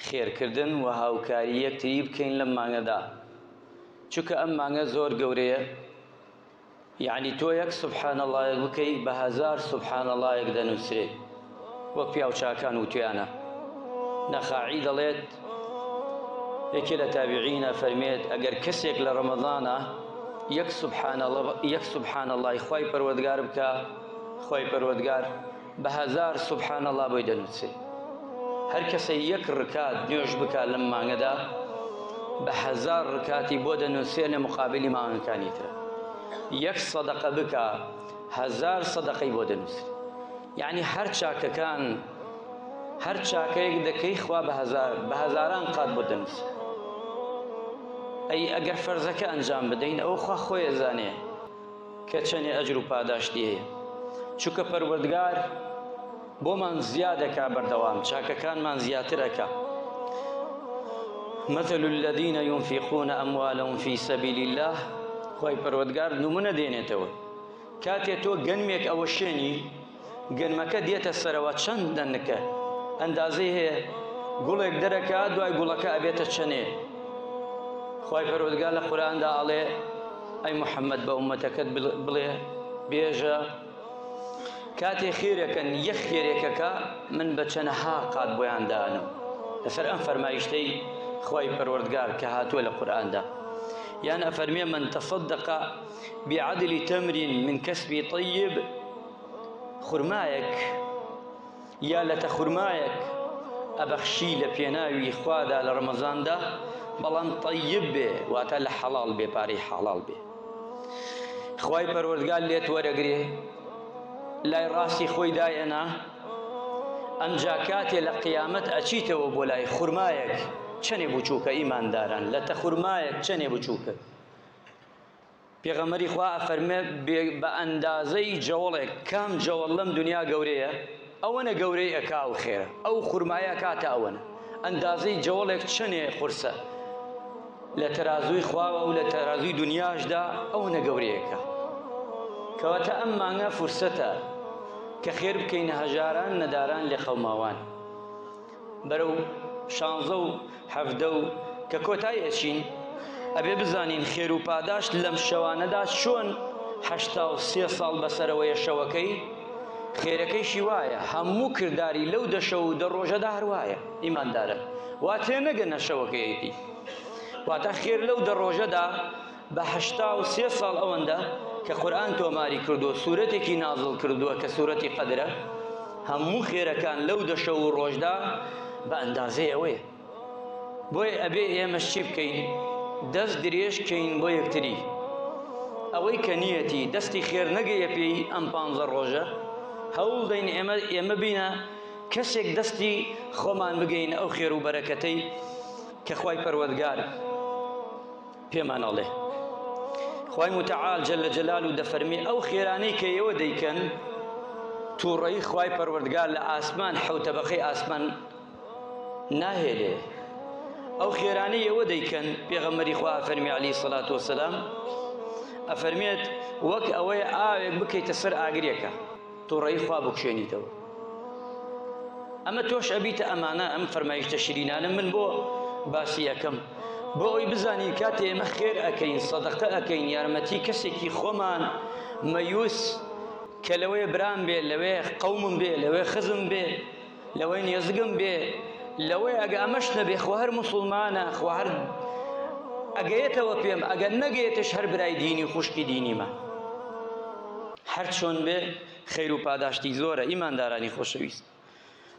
خێرکردن و هاوکاری یەکتری بکەین لەم مانگەدا چونکە ئەم مانگە زۆر گەورەیە یعنی تۆ یەک سبحان اللهەک بکەی بە هزار سبحان اللهەک دەنووسێ وەک پیاوچاکان وتویانە نەخاعی دەڵێت یەکێ لە تابیعینە فەرمێت ئەگەر کەسێک لە ڕەمەزانە یەک سبحان اللە یەک سبحان اللهی خی پەروەردگار بکە خی پەروەردگار بە هەزار سبحان اللە بۆی دەنووسێ هەر کەسە یەک ڕکات نوێژ بکات لەم مانگەدا بە هەزار ڕکاتی بۆ دەنووسێ لە مقابلی مانگەکانی ترە یەک سەدەقە بکە هەزار سەدەقەی بۆ دەنووسێ یعنی هەر چاکەکان هەر چاکەیەک دەکەی خوا بە هەزار بە هەزاران قات بۆ دەنووسێ ئەی ئەگەر فەرزەکە ئەنجام بدەین ئەو خوا خۆی زانێ کە چەنێ ئەجر و پاداشتی هەیە چونکە پەروەردگار بۆمان زیادەکا بەردەوام چاکەکانمان زیاتر ئەکا مثل الذين ينفقون أموالهم في سبيل الله خوای پەروەردگار نمونە دێنێتەوە کاتێ تۆ گەنمێک ئەوە شێنی گەنمەکە دێتە سەرەوە چەند دەنکە ئەندازەی هەیە گوڵێک دەرەکە دوای گوڵەکە ئەبێتە چەنێ خی پەرۆدگا لە قوراندا ئەڵێ ئەی محەممەد بە عومەتەکەت بڵێ بێژە کاتێ خێرەکەن یەخ خێرێکەکە من بە چەنەها قات بۆیان دانم لەسەر ئەم فەرمایشتەی خی پەروەردگار کە هاتووە لە قورآاندا یان ئەفەرمیێ من تەصدق بعدل تمر من کەسبی طیب خورمایەک یا لەتە خورمایەک ئەبەخشی لە پێناوی خوادا لە ڕەمەزاندا بەڵام طیب بێ واتە لە حەڵال بێ پارەی حەڵال بێ خی پەروەردگار لێت وەرەگرێ لای ڕاستی خۆی دایەنا ئەمجا کاتێ لە قیامەت ئەچیتەوە بۆ لای خورمایەک چەنێ بچووکە ئیمانداران لە تە خورمایەک چەنێ بچووکە پێغەمبەری خوا ئەفەرمێ بە ئەندازەی جەوڵێک کام جەوڵ لەم دنیا گەورەیە ئەوەنە گەورەی ئەکا و خێرە ئەو خورمایە کاتە ئەوەنە ئەندازەی جەوڵێک چەنێ قورسە لە تەرازووی خواوە و لە تەرازووی دنیاشدا ئەوەنە گەورەیەکە کەواتە ئەم مانگە فرسەتە کە خێر بکەین هەژاران نەداران لێ قەوماوان بەرەو شانزە و حەڤدە و کە کۆتای ئەچین ئەبێ بزانین خێر و پاداشت لەم شەوانەدا چۆن هەشتا و سێ ساڵ بەسەرەوەیە شەوەکەی خێرەکەیشی وایە هەموو کردداری لەو دەشە و دە ڕۆژەدا هەروایە ئیماندارە وا تێ نەگەنە شەوەکەیەتی واتە خێر لەو دە ڕۆژەدا بە هەشتا و سێ ساڵ ئەوەندە کە قورآن تۆماری کردووە سوورەتێکی نازڵ کردووە کە سوورەتی قەدرە هەموو خێرەکان لەو دەشە و ڕۆژدا بە ئەندازەی ئەوەیە بۆیە ئەبێ ئێمەش چی بکەین دەست درێژ کەین بۆ یەکتری ئەوەی کە نیەتی دەستی خێر نەگەیە پێی ئەم پانزە ڕۆژە هەوڵ دەین ئێمە ئێمە بینە کەسێک دەستی خۆمان بگەین ئەو خێر و بەرەکەتەی کە خی پەروەگار پێمان ئەڵێ خوای متعال جل جلال و دەفەرمی ئەو خێرانەی کە ئێوە دەیکەن تووڕەی خوای پەروەردگار لە ئاسمان حوتەبەقەی ئاسمان ناهێلێ ئەو خێرانەی ئێوە دەیکەن پێغەمەری خوا فەرمی علی سەلات وسلام ئەفەرمێت وەک ئەوەی ئاوێک بکەیتە سەر ئاگرێکە توڕەیی خوا بکشێنیتەوە ئەمە تۆش ئەبیتە ئەمانە ئەم فەرمایشتە شرینانە من بۆ باسی ئەەکەم بۆ ئەوی بزانین کاتێ ئێمە خێر ئەەکەین سەدەقە ئەەکەین یارمەتی کەسێکی خۆمان مەیوس کە لەوەیە برام بێ لەوێ قەومم بێ لەوێ خزم بێ لەوەی نێزگم بێ لەوەی ئەگە ئەمەش نەبێ خۆ هەر مسلمانە خۆ هەر ئەگەیەتەوە پێم ئەگەر نەگەێتش هەر برای دینی و خوشکی دینیمە هەر چۆن بێ خەیر و پاداشتی زۆرە ئیماندارانی خۆشەویست